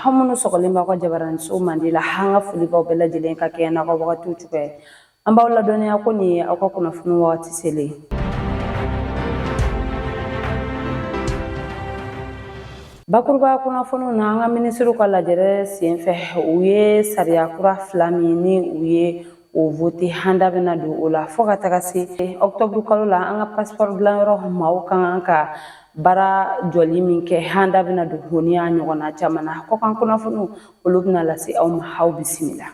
Aw minnu sɔgɔlen b'aw ka jabaraniso mandi la, an ka foli b'aw bɛɛ lajɛlen ka kɛɲɛ n'aw ka wagatiw cogoya ye. An b'aw ladɔnniya ko nin ye aw ka kunnafoni wagati selen ye. Bakuruba kunnafoniw na an ka minisiriw ka lajɛrɛ senfɛ u ye sariya kura fila min ni u ye o vote an da bɛna don o la fɔɔ ka taga se ɔktɔburu kalo la an ka pasipɔri dilanyɔrɔ maaw kan ka baara jɔli min kɛ an da bɛna don o ni a ɲɔgɔnna caman na kɔkan kunnafoniw olu bɛna lase aw ma aw bisimila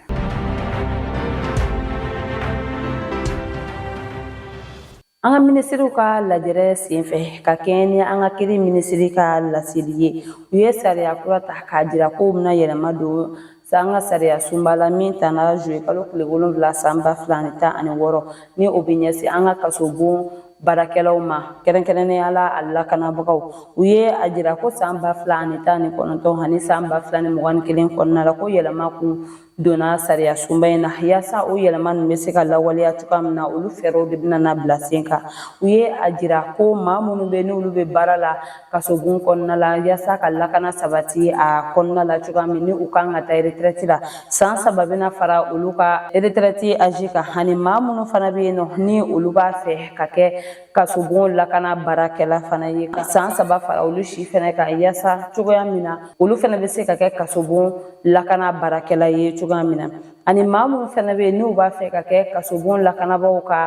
an ka minisiriw ka lajɛrɛ senfɛ ka kɛɲɛ ni an ka kiri minisiri ka laseli ye u ye sariya kura ta k'a jira ko u bɛna yɛlɛma don an ka sariya sunba la min tana zuye kalo tile wolonwula san ba fila ni tan ani wɔɔrɔ ni o bɛ ɲɛsin an ka kaso bon baarakɛlaw ma kɛrɛnkɛrɛnnenya la a lakanabagaw u ye a jira ko san ba fila ani tan ni kɔnɔntɔn ani san ba fila ni mugan ni kelen kɔnɔna la ko yɛlɛma kun donna sariya sunba in na yaasa o yɛlɛma ninnu bɛ se ka lawaleya cogoya min na olu fɛɛrɛw de bɛna na bila sen kan u ye a jira ko maa minnu bɛ n'olu bɛ baara la kasobon kɔnɔna la yasa ka lakana sabati a kɔnɔna la cogoya min ni u kan ka taa retraite la san saba bɛna fara olu ka retraite âge kan ani maa minnu fana bɛ yen nɔ ni olu b'a fɛ ka kɛ kasobon lakana baarakɛla fana ye ka san saba fara olu si fana kan yasa cogoya min na olu fana bɛ se ka kɛ kasobon lakana baarakɛla ye cogoya min na ani maa minnu fana bɛ yen n'u b'a fɛ ka kɛ kasobon lakanabaaw ka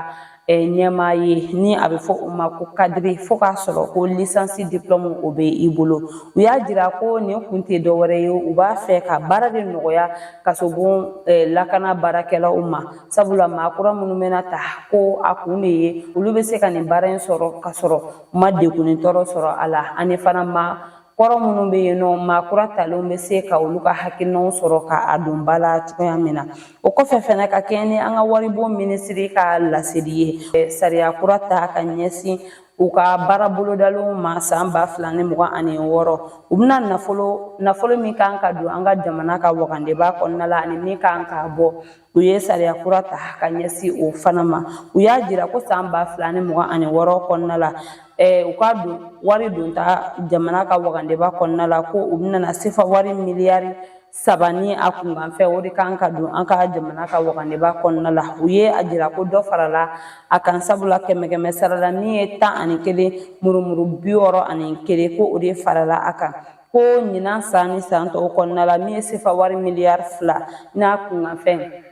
ɲɛmaa ye ni a bɛ fɔ o ma ko kadiri fo k'a sɔrɔ ko lisansi diplɔmu o bɛ i bolo u y'a jira ko nin kun tɛ dɔwɛrɛ ye u b'a fɛ ka baara de nɔgɔya kasobon lakana baarakɛlaw ma sabula maa kura minnu bɛna ta ko a kun de ye olu bɛ se ka nin baara in sɔrɔ ka sɔrɔ u ma degun ni tɔɔrɔ sɔrɔ a la ani fana maa kɔrɔ minnu bɛ yen nɔ maa kura talenw bɛ se ka olu ka hakilinaw sɔrɔ ka a don ba la cogoya min na o kɔfɛ fana ka kɛɲɛ ni an ka waribon minisiri ka laseli ye sariya kura ta ka ɲɛsin u ka baara bolodalenw ma san ba fila ni mugan ani wɔɔrɔ u bɛna nafolo nafolo min kan ka don an ka jamana ka wagandeba kɔnɔna la ani min kan ka bɔ U ye sariya kura ta ka ɲɛsin o fana ma u y'a jira ko san ba fila ni mugan ani wɔɔrɔ kɔnɔna la u ka don wari donta jamana ka wagandeba kɔnɔna la ko u bɛna sefa wari miliyari saba ni a kunkanfɛ o de kan ka don an ka jamana ka wagandeba kɔnɔna la u ye a jira ko dɔ farala a kan sabula kɛmɛkɛmɛ sarala min ye tan ani kelen murumuru bi wɔɔrɔ ani kelen ko o de farala a kan ko ɲinan san ni san tɔw kɔnɔna la min ye sefa wari miliyari fila n'a kunkanfɛn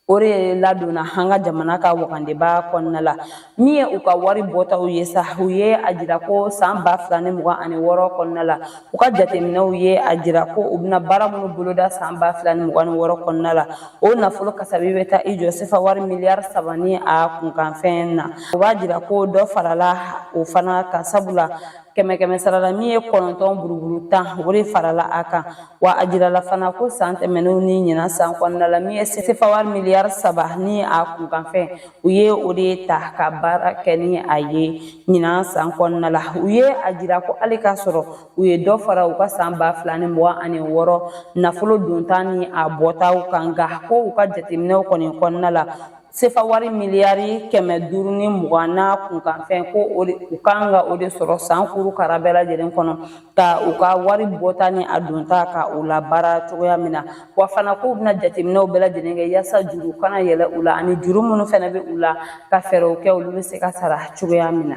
o de ladonna an ka jamana ka wagandeba kɔnɔna la min ye u ka wari bɔtaw ye sa u ye a jira ko san ba fila ni mugan ani wɔɔrɔ kɔnɔna la u ka jateminɛw ye a jira ko u bɛna baara minnu boloda san ba fila ni mugan ni wɔɔrɔ kɔnɔna la o nafolo kasabi bɛ taa i jɔ sefa wari miliyari saba ni a kunkanfɛn na o b'a jira ko dɔ farala o fana kan sabula kɛmɛ kɛmɛ sarala min ye kɔnɔntɔn buruburu tan o de farala a kan wa a jirala fana ko san tɛmɛnenw ni ɲinan san kɔnɔna la min ye sefa wari miliyari saba ni a kunkanfɛn u ye o de ta ka baara kɛ ni a ye ɲinan san kɔnɔna la u ye a jira ko hali k'a sɔrɔ u ye dɔ fara u ka san ba fila ni mugan ani wɔɔrɔ nafolo donta ni a bɔtaw kan nka ko u ka jateminɛw kɔni kɔnɔna la sefa wari miliyari kɛmɛ duuru ni mugan n'a kunkanfɛn ko o de u kan ka o de sɔrɔ san kuru kara bɛɛ lajɛlen kɔnɔ ka u ka wari bɔta ni a donta ka u labaara cogoya min na wa fana k'u bɛna jateminɛw bɛɛ lajɛlen kɛ yaasa juru kana yɛlɛ u la ani juru minnu fana bɛ u la ka fɛɛrɛw kɛ olu bɛ se ka sara cogoya min na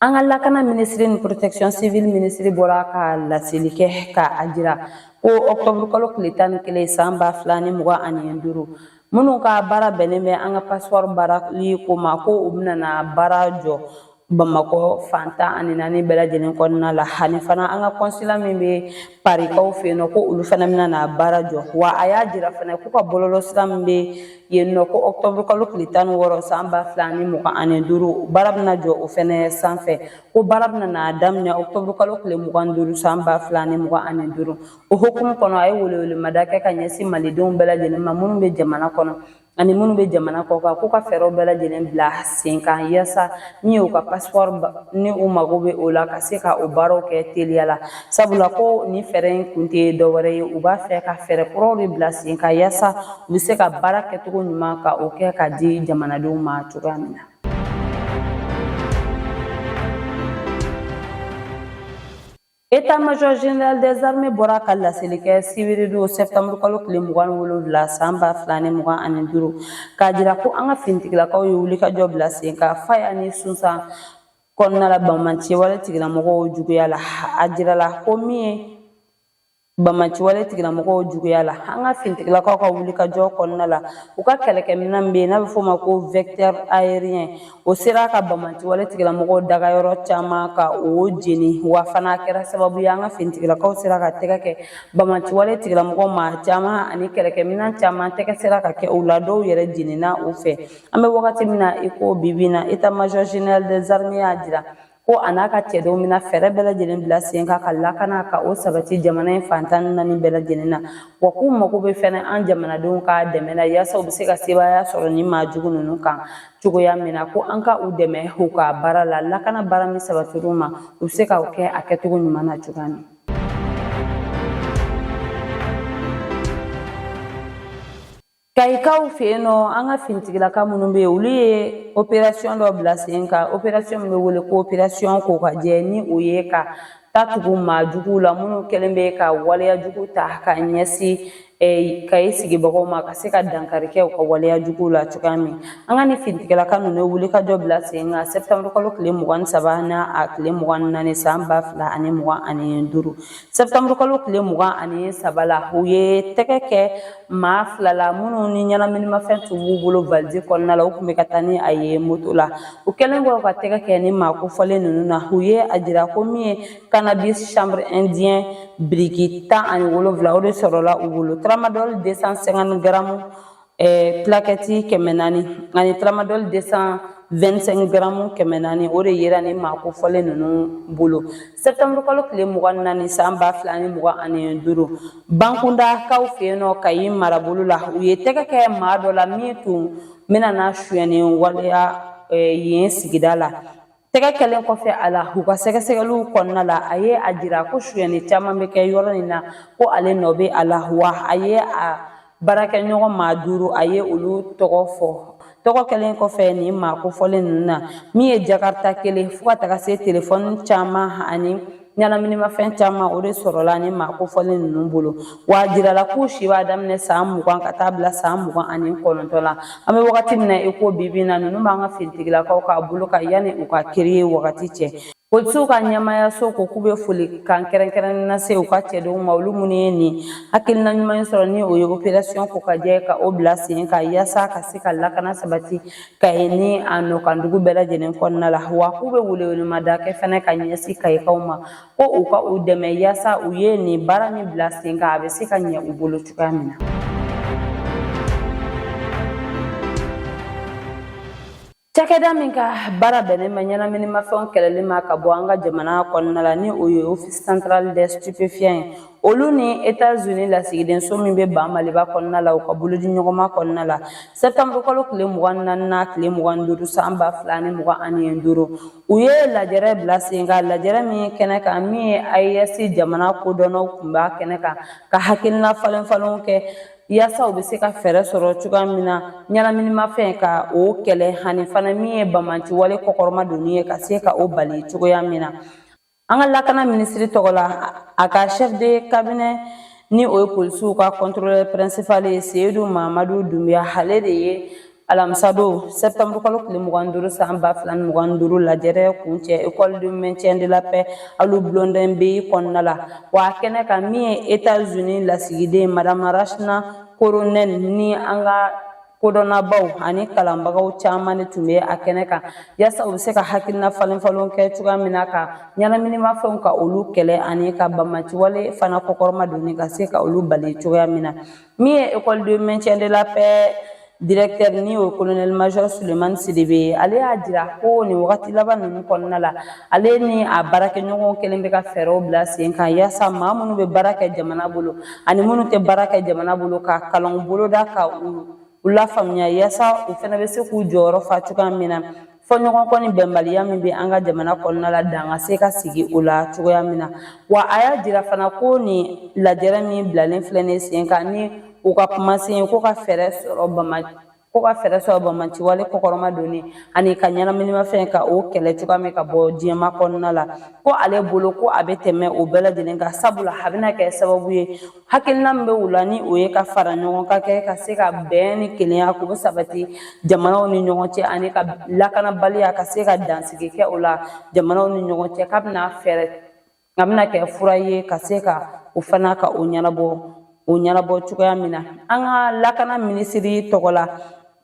An ka lakana minisiri ni protection civile minisiri bɔra ka laseli kɛ ka a jira ko octobre kalo tile tan ni kelen san ba fila ni mugan ani duuru minnu ka baara bɛnnen bɛ an ka pasipɔri baarali ko ma ko u bɛna na baara jɔ Bamakɔ fan tan ani naani bɛɛ lajɛlen kɔnɔna la ani fana an ka kɔnsila min bɛ parikaw fɛ yen nɔ ko olu fana bɛna na baara jɔ wa a y'a jira fana k'u ka bɔlɔlɔ sira min bɛ yen nɔ ko ɔkutɔburu kalo tile tan ni wɔɔrɔ san ba fila ani mugan ani duuru baara bɛna jɔ o fana sanfɛ ko baara bɛna na daminɛ ɔkutɔburu kalo tile mugan ni duuru san ba fila ani mugan ani duuru o hukumu kɔnɔ a ye welewelemada kɛ ka ɲɛsin malidenw bɛɛ lajɛlen ma minnu bɛ jamana kɔnɔ ani minnu bɛ jamana kɔ kan k'u ka fɛɛrɛw bɛɛ lajɛlen bila sen kan yaasa min y'u ka pasipɔri ni u mago bɛ o la ka se ka o baaraw kɛ teliya la sabula ko nin fɛɛrɛ in kun tɛ dɔwɛrɛ ye u b'a fɛ ka fɛɛrɛ kuraw de bila sen kan yaasa u bɛ se ka baara kɛcogo ɲuman ka o kɛ ka di jamanadenw ma cogoya min na État-major général des armées bɔra ka laseli kɛ sibiridon sɛtanburu kalo tile mugan wolonwula san ba fila ni mugan ani duuru k'a jira ko an ka finitigilakaw ye wulikajɔ bila sen kan Faya ni Sunsan kɔnɔna la banbaanci wale tigilamɔgɔw juguya la a jirala ko min ye banbaanciwale tigilamɔgɔw juguya la an ka finitigilakaw ka wulikajɔ kɔnɔna la u ka kɛlɛkɛminɛn min bɛ yen n'a bɛ f'o ma ko vecteur aérien o sera ka banbaanciwale tigilamɔgɔw dagayɔrɔ caman ka o jeni wa fana a kɛra sababu ye an ka finitigilakaw sera ka tɛgɛ kɛ banbaanciwale tigilamɔgɔw maa caman ani kɛlɛkɛminɛn caman tɛgɛ sera ka kɛ u la dɔw yɛrɛ jenina u fɛ an bɛ wagati min na i ko bi bi in na état major général des armées y'a jira ko a n'a ka cɛdenw bɛna fɛɛrɛ bɛɛ lajɛlen bila sen kan ka lakana ka o sabati jamana in fan tan ni naani bɛɛ lajɛlen na wa k'u mago bɛ fɛnɛ an jamanadenw ka dɛmɛ na yaasa u bɛ se ka sebaaya sɔrɔ nin maa jugu ninnu kan cogoya min na ko an ka u dɛmɛ u ka baara la lakana baara min sabatir'u ma u bɛ se ka o kɛ a kɛcogo ɲuman na cogoya min Kayikaw fɛ yen nɔ an ka finitigilaka minnu bɛ yen olu ye operasiyɔn dɔ bila sen kan operasiyɔn min bɛ wele ko operasiyɔn kokajɛ ni o ye ka ta tugu maa juguw la minnu kɛlen bɛ ka waleya jugu ta ka ɲɛsin eh, Kayi sigibagaw ma ka se ka dankari kɛ u ka waleya juguw la cogoya min an ka ni finitigilaka ninnu ye wulikajɔ bila sen kan sɛpitɛmburukalo tile mugan ni saba n'a tile mugan ni naani san ba fila ani mugan ani duuru sɛptanburu kalo tile mugan ani saba la u ye tɛgɛ kɛ maa fila la minnu ni ɲɛnaminimafɛn tun b'u bolo valizi kɔnɔna la u tun bɛ ka taa ni a ye moto la u kɛlen kɔ ka tɛgɛ kɛ ni maa kofɔlen ninnu na u ye a jira ko min ye cannabis chanvre indien biriki tan ani wolonwula o de sɔrɔla u bolo tramadol 250 garamu ɛɛ plakɛti kɛmɛ naani ani tramadɔli 225 garamu kɛmɛ naani o de yera ni maa kofɔlen ninnu bolo sɛptanburu kalo tile mugan ni naani san ba fila ni mugan ani duuru Bankundakaw fɛ yen nɔ Kayi marabolo la u ye tɛgɛ kɛ maa dɔ la min tun bɛna na suyɛni waleya yen sigida la Tɛgɛ kɛlen kɔfɛ a la u ka sɛgɛsɛgɛliw kɔnɔna la a ye a jira ko suyɛni caman bɛ kɛ yɔrɔ in na ko ale nɔ bɛ a la wa a ye a baarakɛɲɔgɔn maa duuru a ye olu tɔgɔ fɔ tɔgɔ kɛlen kɔfɛ nin maa kofɔlen ninnu na min ye jakarta kelen fo ka taga se telefɔni caman ani ɲɛnaminimafɛn caman o de sɔrɔla ni maa kofɔlen ninnu bolo wa a jirala k'u si b'a daminɛ san mugan ka taa bila san mugan ani kɔnɔntɔn la an bɛ wagati min na i ko bi bi in na ninnu b'an ka finitigilakaw ka bolo kan yanni u ka kiri ye wagati cɛ polisiw ka ɲɛmaayaso ko k'u bɛ folikan kɛrɛnkɛrɛnnen lase u ka cɛdenw ma olu minnu ye nin hakilina ɲuman in sɔrɔ ni o ye operasiyɔn kokajɛ ka o bila sen kan yaasa ka se ka lakana sabati Kayi ni a nɔkandugu bɛɛ lajɛlen kɔnɔna la wa k'u bɛ welewelemada kɛ fana ka ɲɛsin Kayikaw ma ko u ka u dɛmɛ yaasa u ye nin baara min bila sen kan a bɛ se ka ɲɛ u bolo cogoya min na Cakɛda min ka baara bɛnnen bɛ ɲɛnaminimafɛnw kɛlɛli ma ka bɔ an ka jamana kɔnɔna la ni o ye office central des stupéfiants ye olu ni etazini lasigidenso min bɛ ba maliba kɔnɔna la u ka bolodiɲɔgɔnma kɔnɔna la sɛtanburukalo tile mugan naani ani tile mugan duuru san ba fila ni mugan ani duuru u ye lajɛrɛ bila sen kan lajɛrɛ min ye kɛnɛ kan min ye AES jamana kodɔnnaw tun b'a kɛnɛ kan ka hakilina falen falenw kɛ yaasa u bɛ se ka fɛɛrɛ sɔrɔ cogoya min na ɲɛnaminimafɛn ka o kɛlɛ ani fana min ye bamanciwale kɔkɔrɔma donni ye ka se ka o bali cogoya min na An ka lakana minisiri tɔgɔ la a ka chef de cabinet ni o ye polisiw ka contrôleur principal ye Seyidu Mamadu Dunbiya ale de ye alamisa don septembre kalo tile mugan ni duuru san ba fila ni mugan ni duuru lajɛrɛ kuncɛ école de maintien de la paix alu Blondin Beye kɔnɔna la wa a kɛnɛ kan min ye états unis lasigiden madame rachna Korhonen ni an ka kodɔnnabaaw ani kalanbagaw caman de tun bɛ a kɛnɛ kan yaasa u bɛ se ka hakilina falen falenw kɛ cogoya min na ka ɲɛnaminimafɛnw ka olu kɛlɛ ani ka bamanciwale fana kɔkɔrɔma donni ka se ka olu bali cogoya min na min ye école de maintien de la paix directeur ni o ye colonel major sulemani sidibe ye ale y'a jira ko nin wagati laban ninnu kɔnɔna la ale ni a baarakɛɲɔgɔnw kɛlen bɛ ka fɛɛrɛw bila sen kan yaasa maa minnu bɛ baara kɛ jamana bolo ani minnu tɛ baara kɛ jamana bolo ka kalanw boloda ka u lafaamuya yaasa u fana bɛ se k'u jɔyɔrɔ fa cogoya min na fɔɲɔgɔnkɔ ni bɛnbaliya min bɛ an ka jamana kɔnɔna la dan ka se ka sigi o la cogoya min na wa a y'a jira fana ko nin lajɛrɛ min bilalen filɛ nin sen kan ni u ka kumasen ko ka fɛɛrɛ sɔrɔ bama ko ka fɛɛrɛ sɔrɔ bamanciwale kɔkɔrɔma donni ani ka ɲɛnaminimafɛn ka o kɛlɛ cogoya min ka bɔ diɲɛma kɔnɔna la ko ale bolo ko a bɛ tɛmɛ o bɛɛ lajɛlen kan sabula a bɛna kɛ sababu ye hakilina min bɛ u la ni o ye ka faraɲɔgɔnkan kɛ ka se ka bɛn ni kelenya k'o bɛɛ sabati jamanaw ni ɲɔgɔn cɛ ani ka lakanabaliya ka se ka dansigi kɛ o la jamanaw ni ɲɔgɔn cɛ k'a bɛna fɛɛrɛ k'a bɛna kɛ fura ye ka se ka o fana ka o ɲɛnabɔ o ɲɛnabɔ cogoya min na an ka lakana minisiri tɔgɔ la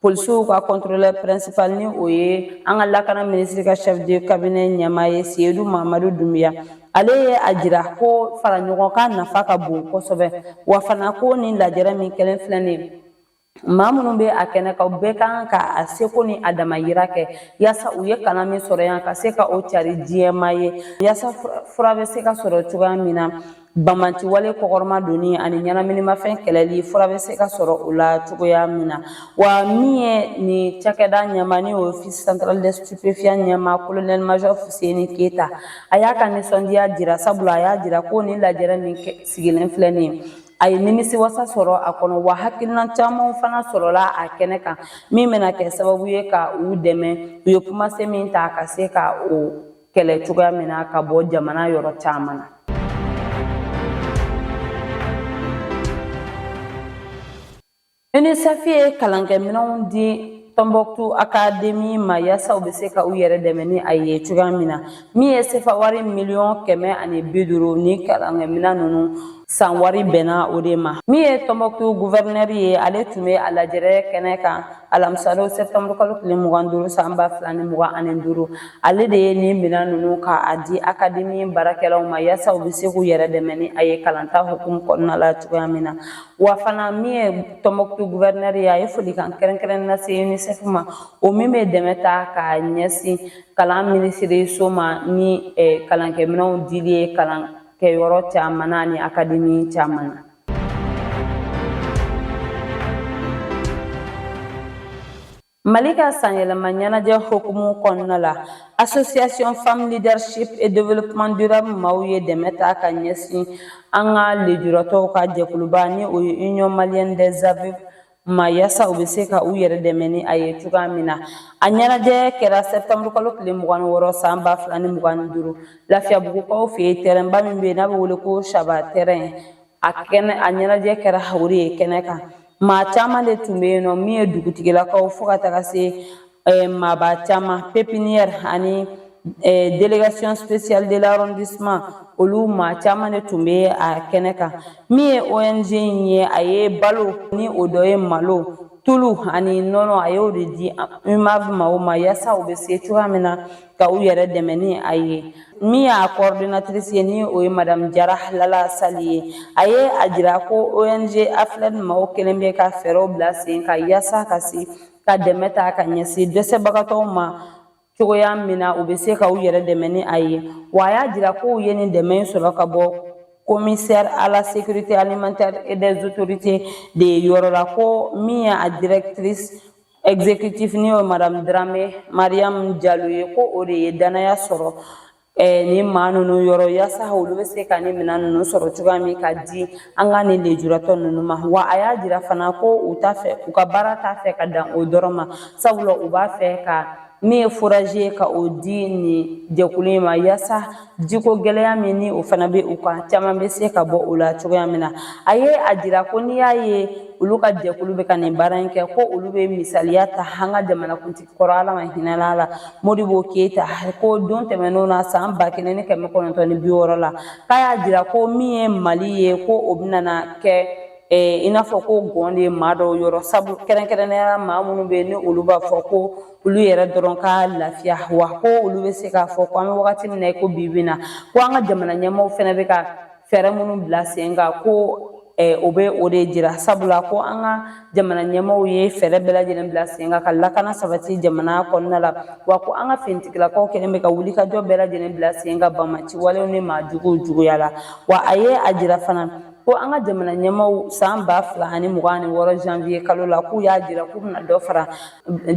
polisiw ka contrôleur principal ni o ye an ka lakana minisiri ka chef de cabinet ɲɛmaa ye seyidu mamadu dunbiya ale ye a jira ko faraɲɔgɔnkan nafa ka bon kosɛbɛ wa fana ko nin lajɛrɛ min kɛlen filɛ nin ye maa minnu bɛ a kɛnɛ kan bɛɛ ka kan ka a seko ni a damayira kɛ yaasa u ye kalan min sɔrɔ yan ka se ka o cari diɲɛma ye yaasa fura bɛ se ka sɔrɔ cogoya min na bamanciwale kɔkɔrɔma donni ani ɲɛnaminimafɛn kɛlɛli fura bɛ se ka sɔrɔ o la cogoya min na wa min ye nin cakɛda ɲɛmaa ni o office central des stupéfiants ɲɛmaa colonel major fuseni keyita a y'a ka nisɔndiya jira sabula a y'a jira ko nin lajɛrɛ min sigilen filɛ nin ye a ye nimisi wasa sɔrɔ a kɔnɔ wa hakilina caman fana sɔrɔla a kɛnɛ kan min bɛna kɛ sababu ye ka u dɛmɛ u ye kumase min ta ka se ka o kɛlɛ cogoya min na ka bɔ jamana yɔrɔ caman na UNICEF ye kalankɛminɛnw di Tɔnbɔkutu akademi ma yaasa u bɛ se ka u yɛrɛ dɛmɛ ni a ye cogoya min na min ye sefa wari miliyɔn kɛmɛ ani bi duuru nin kalankɛminɛn ninnu san wari bɛnna o de ma min ye Tɔnbɔkutu guvɛrinɛri ye ale tun bɛ a lajɛrɛ kɛnɛ kan alamisadon sɛpitɛnburu kalo tile mugan duuru san ba fila ni mugan ani duuru ale de ye nin minɛn ninnu ka a di akademi baarakɛlaw ma yaasa u bɛ se k'u yɛrɛ dɛmɛ ni a ye kalanta hukumu kɔnɔna la cogoya min na wa fana min ye tɔnbɔkutu guvɛrinɛri ye a ye folikan kɛrɛnkɛrɛn lase unicef ma o min bɛ dɛmɛ ta ka ɲɛsin kalan minisiriso ma ni eh, kalankɛminɛnw dili ye kalan kɛyɔrɔ caman na ni akademi caman na Mali ka sanyɛlɛma ɲɛnajɛ hukumu kɔnɔna la Association Femme Leadership et Développement Durable maaw ye dɛmɛ ta ka ɲɛsin an ka lejuratɔw ka jɛkuluba ni o ye Union Malienne des Aveugles ma yaasa u bɛ se ka u yɛrɛ dɛmɛ ni a ye cogoya min na a ɲɛnajɛ kɛra septembre kalo tile mugan ni wɔɔrɔ san ba fila ni mugan ni duuru lafiyabugukaw fɛ yen tɛrɛnba min bɛ yen n'a bɛ wele ko saba tɛrɛn a ɲɛnajɛ kɛra o de ye kɛnɛ kan maa caman de tun bɛ yen nɔ min ye dugutigilakaw fo ka taga se eh, maaba caman pepiniyɛri ani eh, delegation spéciale de l'arrondissement olu maa caman de tun bɛ a kɛnɛ kan min ye ong in ye a ye balo ni o dɔ ye malo tulu ani nɔnɔ a y'o de di umav maaw ma yaasa u bɛ se cogoya min na ka u yɛrɛ dɛmɛ ni a ye min y'a coordinatrice ye ni o ye madame jara lala sali ye a ye a jira ko ong afled maaw kɛlen bɛ ka fɛɛrɛw bila sen kan yaasa ka se ka dɛmɛ ta ka ɲɛsin dɛsɛbagatɔw ma cogoya min na u bɛ se ka u yɛrɛ dɛmɛ ni a ye wa a y'a jira ko u ye nin dɛmɛ in sɔrɔ ka bɔ commissaire à la sécurité alimentaire et des autorités de ye yɔrɔ la ko min ye a directrice exécutive ni o ye Madame Dramé Mariam Diallo ye ko o de ye danaya sɔrɔ eh, nin maa ninnu yɔrɔ yaasa olu bɛ se ka nin minɛn ninnu sɔrɔ cogoya min ka di an ka nin lejuratɔ ninnu ma wa a y'a jira fana ko u t'a fɛ u ka baara t'a fɛ ka dan o dɔrɔn ma sabula u b'a fɛ ka min ye forazi ye ka o di nin jɛkulu in ma yaasa jiko gɛlɛya min ni o fana bɛ u kan caman bɛ se ka bɔ o la cogoya min na a ye a jira ko n'i y'a ye olu ka jɛkulu bɛ ka nin baara in kɛ ko olu bɛ misaliya ta an ka jamanakuntigi kɔrɔ ala ma hinɛ a la modibo keyita ko don tɛmɛnenw na san ba kelen ni kɛmɛ kɔnɔntɔn ni bi wɔɔrɔ la k'a y'a jira ko min ye mali ye ko o bɛna na kɛ i n'a fɔ ko gɔn de ye maa dɔw yɔrɔ sabu kɛrɛnkɛrɛnnenya maa minnu bɛ yen ni olu b'a fɔ ko olu yɛrɛ dɔrɔn ka lafiya wa ko olu bɛ se k'a fɔ ko an bɛ wagati min na i ko bi bi in na ko an ka jamana ɲɛmaaw fana bɛ ka fɛɛrɛ minnu bila sen kan ko o bɛ o de jira sabula ko an ka jamana ɲɛmaaw ye fɛɛrɛ bɛɛ lajɛlen bila sen kan ka lakana sabati jamana kɔnɔna la wa ko an ka finitigilakaw kɛlen bɛ ka wulikajɔ bɛɛ lajɛlen bila sen kan banbaanci walew ni maa juguw juguya la wa a ye a jira fana ko an ka jamana ɲɛmaaw san ba fila ani mugan ani wɔɔrɔ janvier kalo la k'u y'a jira k'u bɛna dɔ fara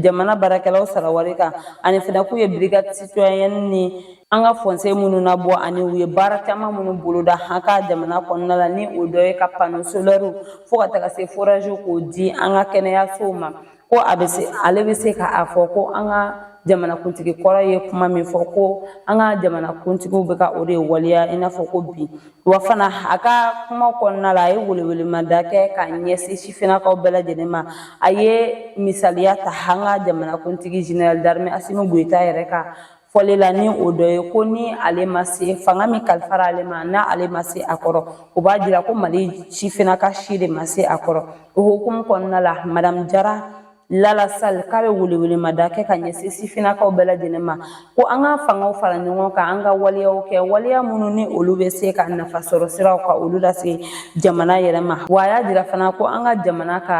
jamana baarakɛlaw sara wari kan ani fana k'u ye brigade citoyenne ni an ka fɔnse minnu nabɔ ani u ye baara caman minnu boloda an ka jamana kɔnɔna la ni o dɔ ye ka pano solɛriw fo ka taga se foraziw k'o di an ka kɛnɛyasow ma ko a bɛ ale bɛ se ka a fɔ ko an ka jamanakuntigi kɔrɔ ye kuma min fɔ ko an ka jamanakuntigiw bɛ ka o de waleya i n'a fɔ ko bi wa fana a ka kuma kɔnɔna la a ye welewelemada kɛ ka ɲɛsin sifinnakaw bɛɛ lajɛlen ma a ye misaliya ta an ka jamanakuntigi général d'armée asimi goyita yɛrɛ ka fɔli la ni o dɔ ye ko ni ale ma se fanga min kalifara ale ma n'ale ma se a kɔrɔ o b'a jira ko mali sifinnaka si de ma se a kɔrɔ o hukumu kɔnɔna la madamu jara Lala Sal k'a bɛ welewelemada kɛ ka ɲɛsin sifinnakaw bɛɛ lajɛlen ma ko an ka fangaw fara ɲɔgɔn kan an ka waleyaw kɛ waleya minnu ni olu bɛ se ka nafa sɔrɔ siraw ka olu lase jamana yɛrɛ ma wa a y'a jira fana ko an ka jamana ka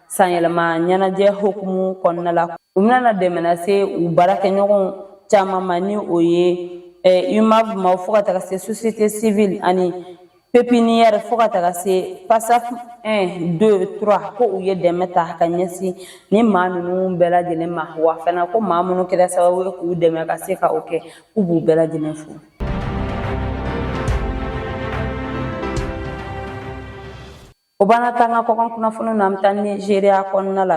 sanyɛlɛma ɲɛnajɛ hokumu kɔnɔna la u bɛna dɛmɛ nase u baarakɛɲɔgɔnw caman ma ni o ye UMAV ma fo ka taga se société civile ani pepiniyɛri fo ka taga se pasaf 1 2 3 ko u ye dɛmɛ ta ka ɲɛsin ni maa ninnu bɛɛ lajɛlen ma wa fana ko maa minnu kɛra sababu ye k'u dɛmɛ ka se ka o kɛ k'u b'u bɛɛ lajɛlen fo O b'an nati an ka kɔkan kunnafoniw na an bɛ taa nizeriya kɔnɔna la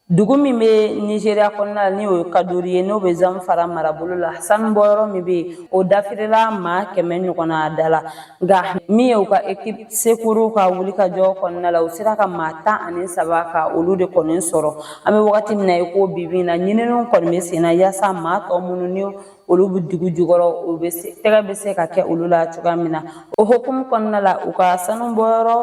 dugu min bɛ nizeriya kɔnɔna la ni o ye kadori ye n'o bɛ zamfara marabolo la sanubɔyɔrɔ min bɛ yen o dafirila maa kɛmɛ ɲɔgɔnna da la nka min ye u ka équipe secours ka wulikajɔ kɔnɔna la u sera ka maa tan ani saba ka olu de kɔni sɔrɔ an bɛ wagati min na i ko bi bi in na ɲininiw kɔni bɛ sen na yaasa maa tɔ minnu ni olu bɛ dugu jukɔrɔ o bɛ se tɛgɛ bɛ se ka kɛ olu la cogoya min na o hukumu kɔnɔna la u ka sanu bɔyɔrɔ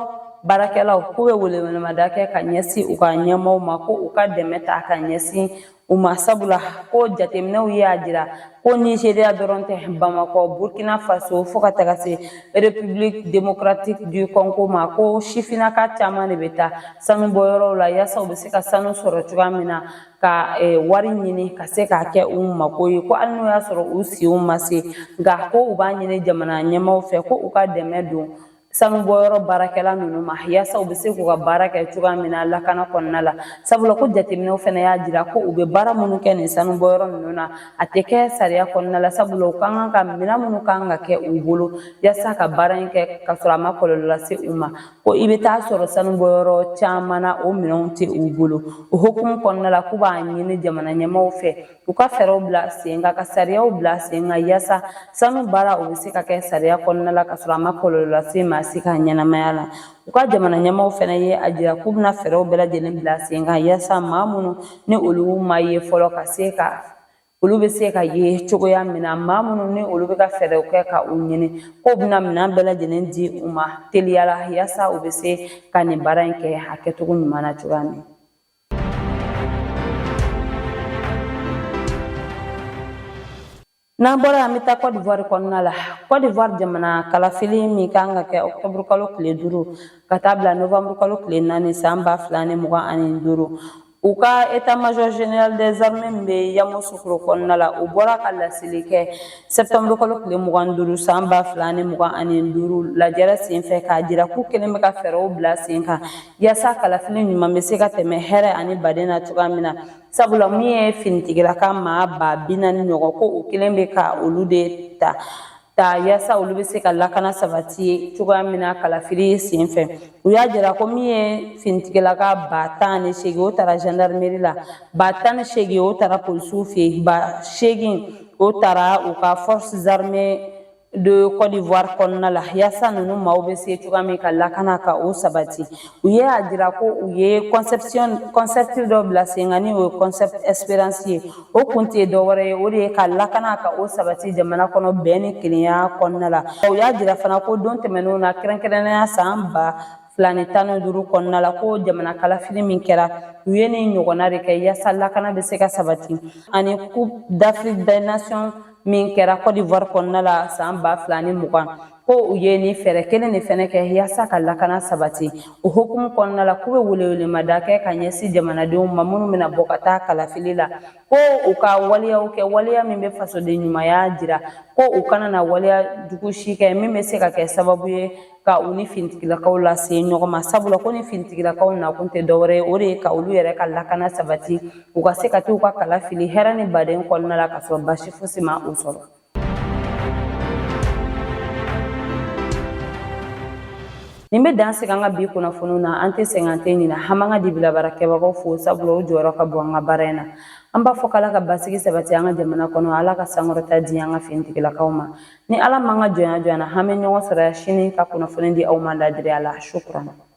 baarakɛlaw k'u bɛ welewelemada kɛ ka ɲɛsin u ka ɲɛmaaw ma ko u ka dɛmɛ ta ka ɲɛsin u ma sabula ko jateminɛw y'a jira ko nizeriya dɔrɔn tɛ bamakɔ burkina faso fo ka taga se république démocratique du congo ma ko sifinnaka caman de bɛ taa sanu bɔyɔrɔw la yaasa u bɛ se ka sanu sɔrɔ cogoya min na ka e, wari ɲini ka se k'a kɛ u mako ye ko hali n'o y'a sɔrɔ u si ma se nka ko u b'a ɲini jamana ɲɛmaaw fɛ ko u ka dɛmɛ don sanubɔyɔrɔ baarakɛla ninnu ma yaasa u bɛ se k'u ka baara kɛ cogoya min na lakana kɔnɔna la sabula ko jateminɛw fana y'a jira ko u bɛ baara minnu kɛ nin sanubɔyɔrɔ ninnu na a tɛ kɛ sariya kɔnɔna la sabula u kan ka minɛn minnu kan ka kɛ u bolo yaasa ka baara in kɛ ka sɔrɔ a ma kɔlɔlɔ lase u ma ko i bɛ taa sɔrɔ sanu bɔyɔrɔ caman na o minɛnw tɛ u bolo o hukumu kɔnɔna la k'u b'a ɲini jamana ɲɛmaaw fɛ u ka fɛɛrɛw bila sen kan ka sariyaw bila sen kan yaasa sanu baara o bɛ se ka kɛ sariya kɔnɔna la ka sɔrɔ a ma kɔlɔlɔ lase maa si ka ɲɛnamaya la u ka jamana ɲɛmaaw fana ye a jira k'u bɛna fɛɛrɛw bɛɛ lajɛlen bila sen kan yaasa maa minnu ni olu ma ye fɔlɔ ka se ka olu bɛ se ka ye cogoya min na maa minnu ni olu bɛ ka fɛɛrɛw kɛ ka u ɲini k'u bɛna minɛn bɛɛ lajɛlen di u ma teliya la yaasa u bɛ se ka nin baara in kɛ a kɛcogo ɲuman na cogoya min N'an bɔra an bɛ taa Côte d'Ivoire kɔnɔna la Côte d'Ivoire jamana kalafili min kan ka kɛ octobre kalo tile duuru ka taa bila novembre kalo tile naani san ba fila ni mugan ani duuru U ka état-major général des armées min bɛ Yamoussoukro kɔnɔna la u bɔra ka laseli kɛ septembre kalo tile mugan duuru san ba fila ni mugan ani duuru lajɛrɛ sen fɛ k'a jira k'u kelen bɛ ka fɛɛrɛw bila sen kan yaasa kalafili ɲuman bɛ se ka tɛmɛ hɛrɛ ani baden na cogoya min na sabula min ye finitigilaka maa ba bi naani ɲɔgɔn ko o kelen bɛ ka olu de ta ta yaasa olu bɛ se ka lakana sabati cogoya min na kalafili sen fɛ u y'a jira ko min ye finitigilaka ba tan ni seegin o taara gendarmerie la ba tan ni seegin o taara polisiw fɛ yen ba seegin o taara u ka forces armées de Côte d'Ivoire kɔnɔna la yaasa ninnu maaw bɛ se cogoya min ka lakana ka o sabati u ye a jira ko u ye concept dɔ bila sen kan ni o ye concept espérance ye o kun tɛ dɔwɛrɛ ye o de ye ka lakana ka o sabati jamana kɔnɔ bɛn ni kelenya kɔnɔna la u y'a jira fana ko don tɛmɛnenw na kɛrɛnkɛrɛnnenya san ba fila ni tan ni duuru kɔnɔna la ko jamana kalafili min kɛra u ye nin ɲɔgɔnna de kɛ yaasa lakana bɛ se ka sabati ani coupe d'afrique des nations min kɛra côte d'ivoire kɔnɔna la san ba fila ni mugan ko u ye nin fɛɛrɛ kelen de fɛnɛ kɛ yaasa ka lakana sabati o hukumu kɔnɔna la k'u be welewelemada kɛ ka ɲɛsi jamanadenw ma minnu bena bɔ ka taa kalafili la ko u ka waleyaw kɛ waleya min be fasoden ɲumanya jira ko u kana na waleya jugu si kɛ min be se ka kɛ sababu ye ka u ni finitigilakaw lase ɲɔgɔn ma sabula ko ni finitigilakaw nakun tɛ dɔwɛrɛ ye o de ye ka olu yɛrɛ ka lakana sabati u ka se ka t'u ka kala fili hɛrɛ ni baden kɔnɔna la ka sɔrɔ baasi fosi ma u sɔrɔ nin bɛ dan sigi an ka bi kunnafoniw na an tɛ sɛgɛn an tɛ ɲinɛ an b'an ka dibilabaarakɛbagaw fo sabula o jɔyɔrɔ ka bon an ka baara in na an b'a fɔ k'ala ka basigi sabati an ka jamana kɔnɔ ala ka sankɔrɔta di an ka finitigilakaw ma ni ala m'an ka jɔnya jɔ an na an bɛ ɲɔgɔn sɔrɔ yan sini ka kunnafoni di aw ma ladiriya la shukran